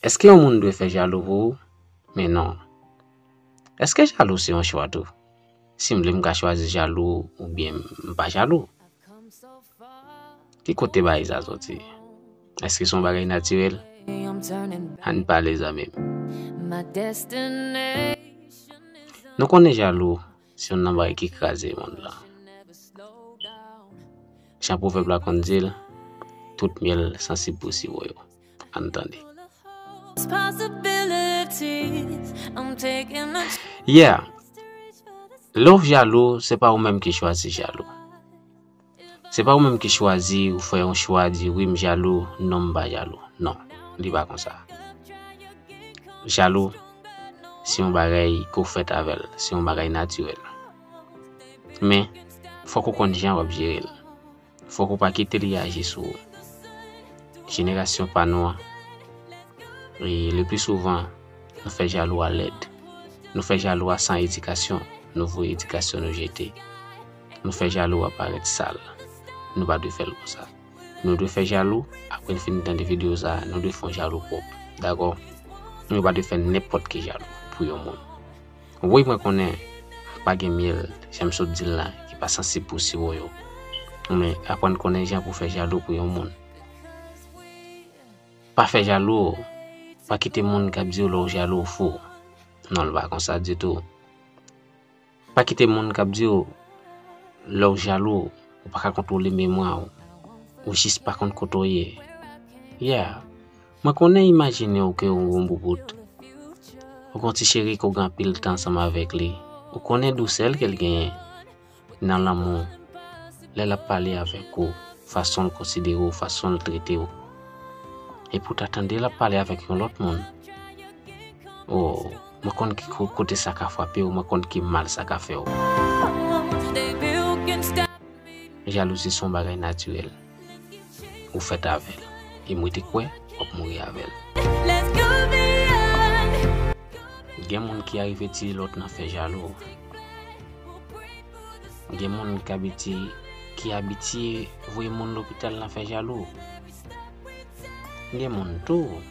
Eske yon moun dwe fè jalou pou ou? Men non. Eske jalou se yon chwa tou? Si m vle m ka chwazi jalou ou byen m pa jalou. Ki kote bagay sa soti? Eske son bagay natirel? Ann pale zanmim. Nou konnen jalou se yon nan bagay ki kraze moun la. Jan pwoveb la konn dil, tout myèl sansib pou siwo yo. Ann tande. Yeah, lè w jalou se pa ou menm ki chwazi jalou. Se pa ou menm ki chwazi ou fè yon chwa di wi m jalou non m pa jalou non li pa konsa jalou se yon bagay ke w fèt avè l se yon bagay natirèl men fòk ou konn jan w ap jere l fòk ou pa kite li aji sou ou jenerasyon pa nou an e le pi souvan nou fè jalou a lèd nou fè jalou a san edikasyon nou voye edikasyon nou jete. nou fè jalou a parèt sal. Nou pa dwe fèl konsa. Nou dwe fè jalou, apre n fin tande video sa, nou dwe fè yon jalou pwòp. Dakò? Nou pa dwe fè nenpòt ki jalou pou yon moun. Wi mwen konnen m pa gen myèl, jan m sot di l la, ki pa sansib pou siwo yo. Men aprann konnen jan pou fè jalou pou yon moun. Pa fè jalou, pa kite moun k ap di w lè w jalou fou w. Non l pa konsa ditou. Pa kite moun kap di w lè w jalou ou pa ka kontwole memwa w, ou jis pa konn kote w ye. Yeah, mwen konnen imajine w ke w yon boubout. Ou gon ti cheri ke w gen anpil tan ansanm avèk li. Ou konnen dousè l ke l genyen nan lanmou lè lap pale avèk ou, fason l konsidere w, fason l trete w. Epi w ta tande lap pale avèk yon lòt moun. Oh. Mwen konn ki kote sa ka frape w, mwen konn ki mal sa ka fè w. Jalouzi son bagay natirèl, ou fèt avè l, e mwen te kwè w ap mouri avè l. Gen moun ki arive tiye lòt nan fè jalou, gen moun ki abitye voye moun lopital nan fè jalou, gen moun tou.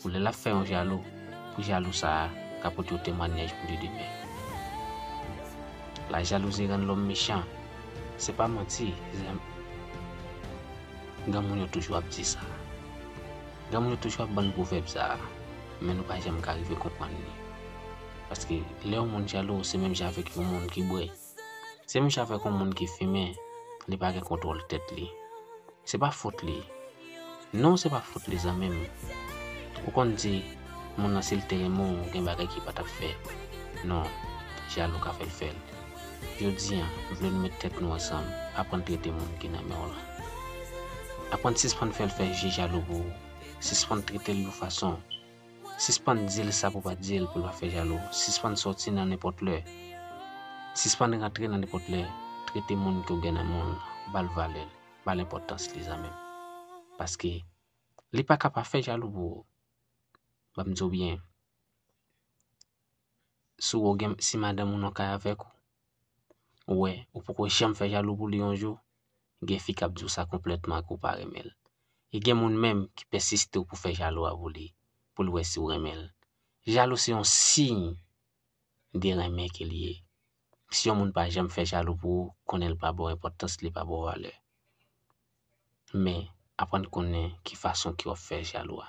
Pou lè lap fè yon jalou pou jalou sa a ka pote yon temwanyaj pou li demen. La jalouzi rann lòm mechan se pa manti zanmi granmoun yo toujou ap di sa granmoun yo toujou ap bann pwovèb sa a men nou pa janm ka rive konprann li paske lè yon moun jalou se menm jan avèk yon moun ki bwè Se menm jan avèk yon moun ki fimen, li pa gen kontwòl tèt li. Se pa fot li. Non, se pa fot li zanmi m. Ou konn di, moun nan si l te renmen w, gen bagay ki pa t ap fè. Non, jalou ka fè l fè l. Jodi an, m vle nou met tèt nou ansanm, aprann trete moun ki nan men w lan. Aprann sispann fè l fè je jalou pou ou, sispann trete l yon fason. Sispann di l sa pou pa di l pou l pa fè jalou. Sispann sòti nan nenpòt lè. Sispann rantre nan nenpòt lè. Trete moun ke w gen nan men w lan. Ba l valè l. Ba l enpòtans li zanmi m. Paske li pa ka pa fè jalou pou ou. Ban m di w byen. Si w gen, si madanm ou nan kay avèk ou, ou wè ou poko janm fè jalou pou li yon jou. Gen fi kap diw sa konplètman ke w pa renmen l. E gen moun menm ki pèsiste w pou fè jalou a pou li, pou l wè si w renmen l. Jalou se yon siy de renmen ke li ye. Si yon moun pa janm fè jalou pou ou, konnen l pa ba w enpòtans, li pa ba w valè. Men, aprann konnen ki fason ke w ap fè jalou a.